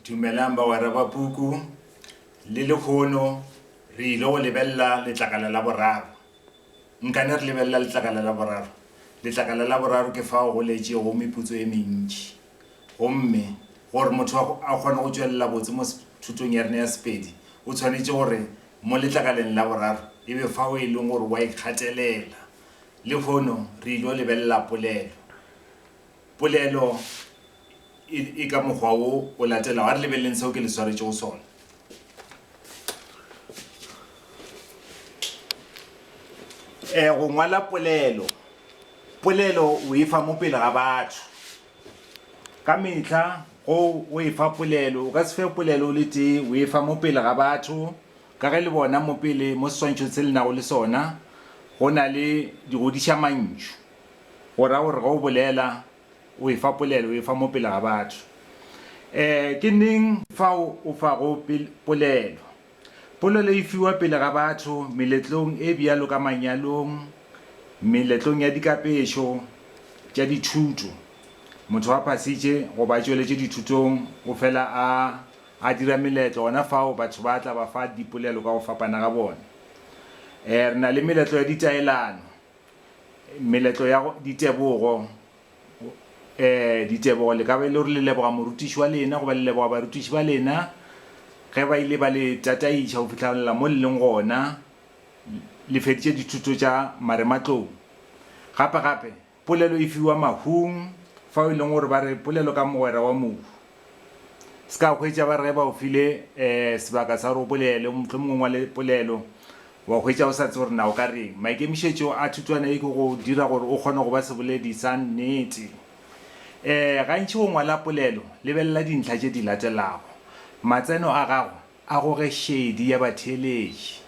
Dumelang bagwera ba puku. Le lehono re ile go lebelela letlakala la boraro. Nkane re lebelela letlakala la boraro. Letlakala la boraro ke fao go leetšego meputso e mentši. Gomme gore motho a a kgone go tšwelela botse mo thutong ya rena ya Sepedi, o tshwanetše gore mo letlakaleng la boraro e be fao e lego gore o a ikgatelela. Lehono re ile go lebelela polelo. Polelo e, e ka mokgwa wo o latelago. A re lebeleleng seo ke le swaretšego sona. E, go ngwala polelo. Polelo o e fa mo pele ga batho. Ka mehla go o e fa polelo, o ka se fe polelo o le tee, o e fa mo pele ga batho, ka ge le bona mo pele mo seswantšhong se le nago le sona go na le digodišamantšu. O ra gore ge o bolela, o efa polelo, o efa mo pele ga batho. E, ke neng fao o fago polelo? Polelo e fiwa pele ga batho meletlong e bjalo ka manyalong, meletlong ya dikapešo tša dithuto. Motho a phasitše goba a tšweletše dithutong o fela a a dira meletlo, gona fao batho ba tla ba fa dipolelo ka go fapana ga bona. E, re na le meletlo ya ditaelano. Meletlo ya ditebogo e, ditebogo le ka ba e le gore le leboga morutiši wa lena goba le leboga barutiši ba lena ge ba ile ba le tataiša go fihlalela mo le leng gona le feditše dithuto tša marematlou. Gape-gape, polelo e fiwa mahung fao e leng gore ba re polelo ka mogwera wa mohu. Se ka hwetša ba re ge ba o file um sebaka sa gore o bolele, mohlomongwe ngwale polelo, wa hwetša o sa tse gore na o ka reng. Maikemišetšo a thutwana ye ke go dira gore o kgone go ba seboledi sa nnete. Um gantši o ngwala polelo, lebelela dintlha tše di latelago, Matseno a gago a goge šedi ya batheeletši.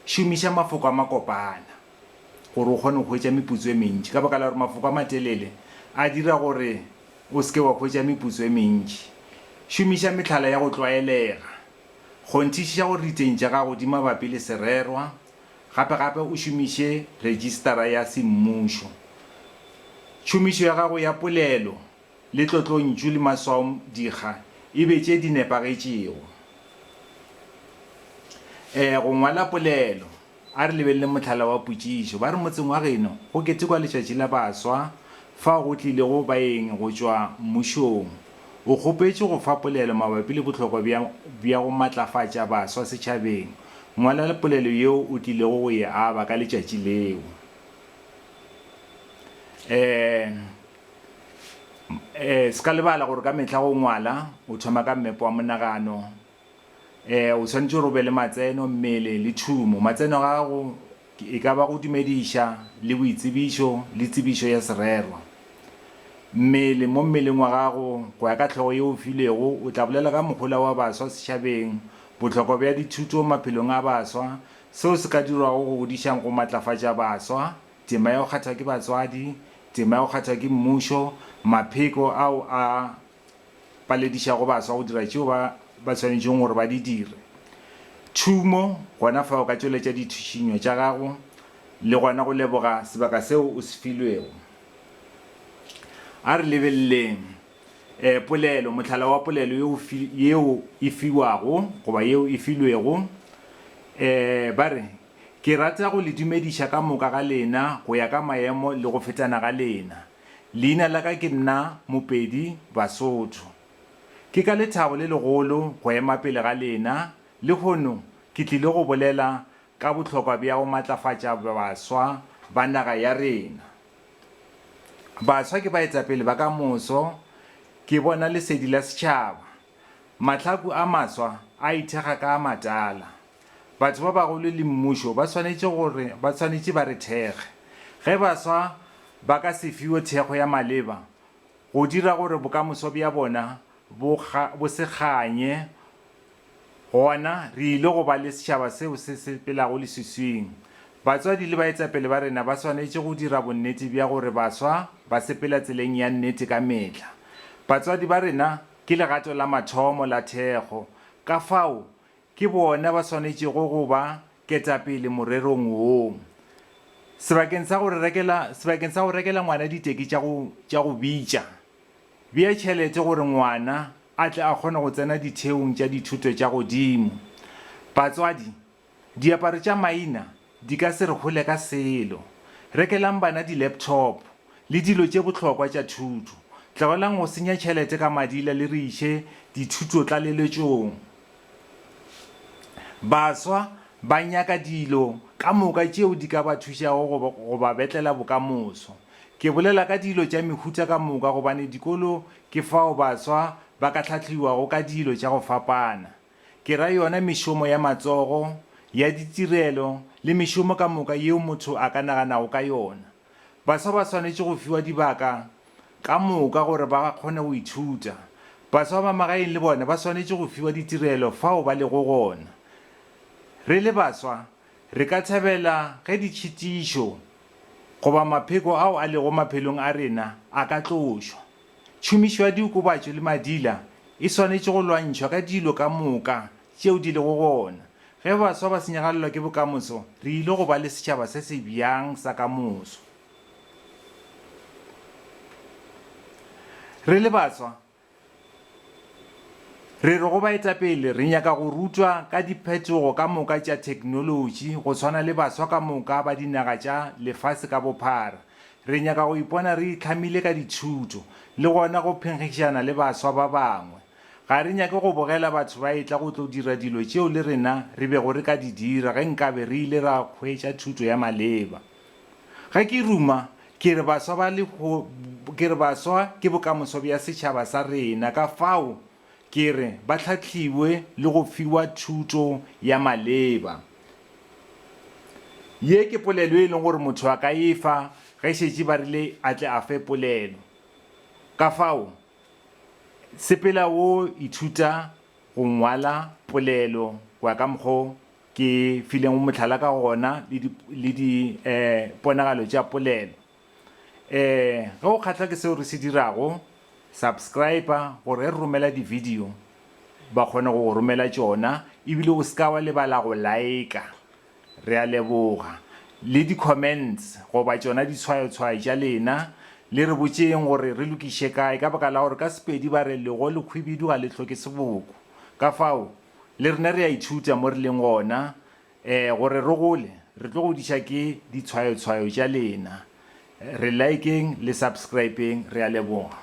Šomiša mafoko a makopana gore o kgone go hwetša meputso e mentši. Ka baka la gore mafoko a matelele a dira gore O se ke wa hwetša meputso e mentši. Šomiša mehlala ya go tlwaelega. Kgonthišiša gore diteng tša gago di mabapi le sererwa, gape gape o šomiše Retšistara ya Semmušo. Tšhomišo ya gago ya polelo le tlotlontšu le maswaodikga e be tše di nepagetšego. Ee, go ngwala polelo. A re lebeleleng mohlala wa potšišo. Ba re motseng wa geno go ketekwa letšatši la baswa fao go tlilego baeng go tšwa mmušong. O kgopetše go fa polelo mabapi le bohlokwa bja bja go matlafatša baswa setšhabeng. Ngwala le polelo yeo o tlilego go e aba ka letšatši leo. E, e, se ka lebala gore ka mehla go ngwala o thoma ka mmepe wa monagano O swanetše gore o be le matseno, mmele, le tšhumo. Matseno a gago e ka ba go dumediša, le boitsebišo, le tsebišo ya sererwa. Mmele, mo mmeleng wa gago, go ya ka hlogo yeo o filwego, o tla bolela ka mohola wa baswa setšhabeng, bohlokwa bja dithuto maphelong a baswa, seo se ka dirwago go godišang go matlafatša baswa, tema ya go kgathwa ke batswadi, tema ya go kgathwa ke mmušo, mapheko ao a ba ledišago baswa go dira tšeo ba ba swanetšego gore ba di dire. Thumo, gona fa o ka tšweletša dithušinyo tša gago le gona go leboga sebaka seo o se filwego. A re lebeleleng um polelo, mohlala wa polelo yeo yeo e fiwago goba yeo e filwego. Um ba re, Ke rata go le dumediša ka moka ga lena go ya ka maemo le go fetana ga lena. Leina la ka ke nna Mopedi Basotho. Ke ka lethabo le legolo go ema pele ga lena lehono ke tlile go bolela ka bohlokwa bja go matlafatša baswa ba naga ya rena. Baswa ke baetapele ba ka moso, ke bona lesedi la setšhaba. Mahlaku a maswa a ithekga ka a matala. Batho ba bagolo le mmušo ba swanetše gore ba swanetše ba re thekge. Ge baswa ba ka se fiwe thekgo ya maleba, go dira gore bokamoso bja bona bo bo se kganye, gona re ile go ba le setšhaba seo se sepelago leswiswing. Batswadi le baetapele ba rena ba swanetše go dira bonnete bja gore baswa ba sepela tseleng ya nnete ka mehla. Batswadi ba rena Ke legato la mathomo la thekgo, ka fao ke bona ba swanetšego go ba ketapele morerong wo. Sebakeng sa go re rekela, sebakeng sa go rekela ngwana diteki tša go, tša go bitša, bea tšhelete gore ngwana a tle a kgone go tsena ditheong tša dithuto tša godimo. Batswadi Diaparo tša maina di ka se re hole ka selo. Rekelang bana di-laptop le dilo tše bohlokwa tša thuto. Tlogelang go senya tšhelete ka madila le re iše dithutotlaleletšong. Baswa ba nyaka dilo ka moka tšeo di ka ba thušago go ba betlela bokamoso. Ke bolela ka dilo tša mehuta ka moka gobane dikolo ke fao baswa ba ka hlahliwago ka dilo tša go fapana. ke ra yona mešomo ya matsogo, ya ditirelo le mešomo ka moka yeo motho a ka naganago ka yona. Baswa ba swanetše go fiwa dibaka ka moka gore ba kgone go ithuta. Baswa ba magaeng le bona ba swanetše go fiwa ditirelo fao ba lego gona. Re le baswa, re ka thabela ge ditšhitišo goba mapheko ao a lego maphelong a rena a ka tlošwa. Tšhomišo ya diokobatšo le madila e swanetše go lwantšhwa ka dilo ka moka tšeo di lego gona. Ge baswa ba senyagalelwa ke bokamoso, re ile go ba le setšhaba se se bjang sa ka moso? Re le baswa, re re go baetapele re nyaka go rutwa ka diphetogo ka moka tša theknolotši go swana le baswa ka moka ba dinaga tša lefase ka bophara. Re nyaka go ipona re itlhamile ka dithuto le gona go phenkgišana le baswa ba bangwe. Ga re nyake go bogela batho ba etla go tlo dira dilo tšeo le rena re bego re ka di dira ge nkabe re ile ra hwetša thuto ya maleba. Ge ke ruma, ke re baswa ba le, ke re baswa ke bokamoso bja setšhaba sa rena, ka fao, Ke re ba hlahliwe le go fiwa thuto ya maleba. Ye ke polelo e leng gore motho a ka e fa ge šetše ba rile a tle a fe polelo. Ka fao, sepela o ithuta go ngwala polelo go ya ka mokgwa o ke fileng mohlala ka gona le diponagalo tša polelo. Ee, ge o kgahlwa ke seo re se dirago, subscriba gore ge re romela di-video ba kgone go go romela tšona ebile o se ka wa lebala go laeka. Re a leboga. Le di-comments goba tšona ditshwayotshwayo tša lena, le re botšeng gore re lokiše kae ka baka la gore ka Sepedi ba re lego lekhwibidu ga le hloke seboko. Ka fao, le rena re a ithuta mo re leng gona Ee, gore re gole, re tlo godiša ke ditshwayotshwayo tša lena. Re likeng le subscribeng, re a leboga.